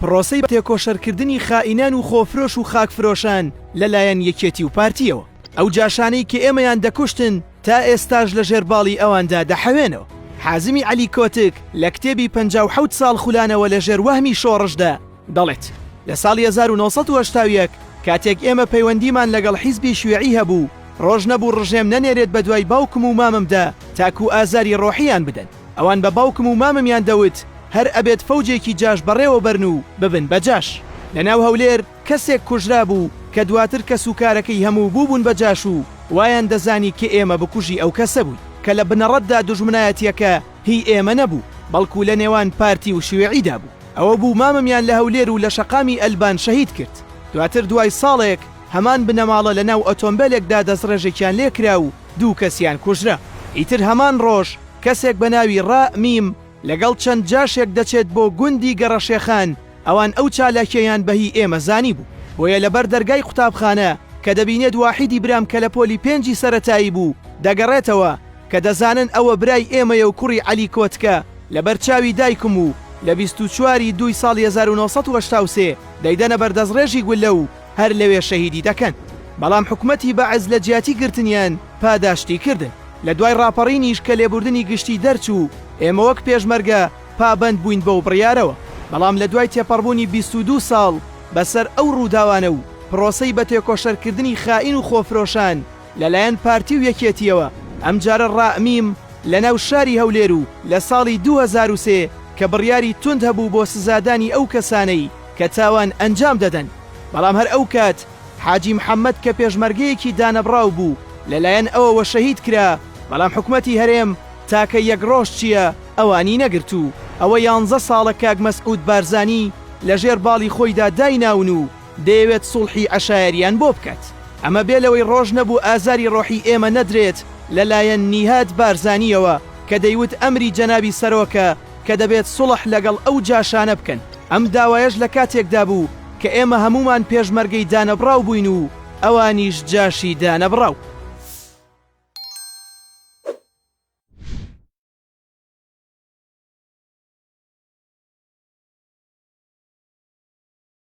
پڕۆسەی تێکۆشەرکردنی خائینان و خۆفرۆش و خاکفرۆشان لەلایەن یەکێتی و پارتییەوە. ئەو جاشانەی کە ئێمەیان دەکوشتن تا ئێستاش لە ژێر باڵی ئەواندا دەحەوێنەوە. حازمی عەلی کۆتک لە کتێبی پەنجا و حەوت ساڵ خولانەوە لە ژێر وەهمی شۆڕشدا دەڵێت، لە ساڵی هەزار و نۆ سەد و هەشتا و یەک کاتێک ئێمە پەیوەندیمان لەگەڵ حیزبی شیوعی هەبوو، ڕۆژ نەبوو ڕژێم نەنێرێت بە دوای باوکم و ماممدا تاکوو ئازاری ڕۆحییان بدەن. ئەوان بە باوکم و ماممیان دەوت هەر ئەبێت فەوجێکی جاش بەڕێوە بەرن و ببن بە جاش. لە ناو هەولێر کەسێک کوژرابوو کە دواتر کەس و کارەکەی هەموو بووبوون بە جاش و وایان دەزانی کە ئێمە بکوژی ئەو کەسە بووین کە لە بنەڕەتدا دوژمنایەتییەکە هی ئێمە نەبوو بەڵکوو لە نێوان پارتی و شیوعیدا بوو. ئەوە بوو ماممیان لە هەولێر و لە شەقامی ئەلبان شەهید کرد. دواتر دوای ساڵێک هەمان بنەماڵە لە ناو ئۆتۆمبێلێکدا دەستڕێژێکیان لێ کرا و دوو کەسیان کوژرا. ئیتر هەمان ڕۆژ کەسێک بە ناوی ڕا میم لەگەڵ چەند جاشێک دەچێت بۆ گوندی گەڕەشێخان، ئەوان ئەو چالاکیەیان بە هی ئێمە زانیبوو، بۆیە لە بەر دەرگای قوتابخانە کە دەبینێت واحیدی برام کە لە پۆلی پێنجی سەرەتایی بوو دەگەڕێتەوە، کە دەزانن ئەوە برای ئێمەیە و کوڕی عەلی کۆتکە، لە بەر چاوی دایکم و لە بیست و چوار ی دووی ساڵی هەزار و نۆ سەد و هەشتا و سێ دەیدەنە بەر دەستڕێژی گوللە و هەر لەوێ شەهیدی دەکەن بەڵام حکومەتی بەعس لە جیاتی گرتنیان پاداشتی کردن لە دوای ڕاپەڕینیش کە لێبوردنی گشتی دەرچوو ئێمە وەک پێشمەرگە پابەند بووین بەو بڕیارەوە بەڵام لە دوای تێپەڕبوونی بیست و دوو ساڵ بەسەر ئەو ڕووداوانە و پرۆسەی بە تێکۆشەر کردنی خائین و خۆفرۆشان لە لایەن پارتی و یەکێتیەوە ئەمجارە ڕائمیم لە ناو شاری هەولێر و لە ساڵی دوو هەزار و سێ کە بڕیاری توند هەبوو بۆ سزادانی ئەو کەسانەی کە تاوان ئەنجام دەدەن، بەڵام هەر ئەو کات حاجی محەمەد کە پێشمەرگەیەکی دانەبڕاو بوو لەلایەن ئەوەوە شەهید کرا، بەڵام حکومەتی هەرێم تاکە یەک ڕۆژ چییە ئەوانی نەگرت و ئەوە یانزە ساڵە کاک مەسعود بارزانی لەژێر باڵی خۆیدا دایناون و دەیەوێت سوڵحی عەشایەریان بۆ بکات ئەمە بێ لەوەی ڕۆژ نەبوو ئازاری ڕۆحی ئێمە نەدرێت لەلایەن نیهاد بارزانیەوە کە دەیوت ئەمری جەنابی سەرۆکە کە دەبێت سوڵح لەگەڵ ئەو جاشانە بکەن، ئەم داوایەش لە کاتێکدا بوو کە ئێمە هەموومان پێشمەرگەی دانەبڕاو بووین و ئەوانیش جاشی دانەبڕاو.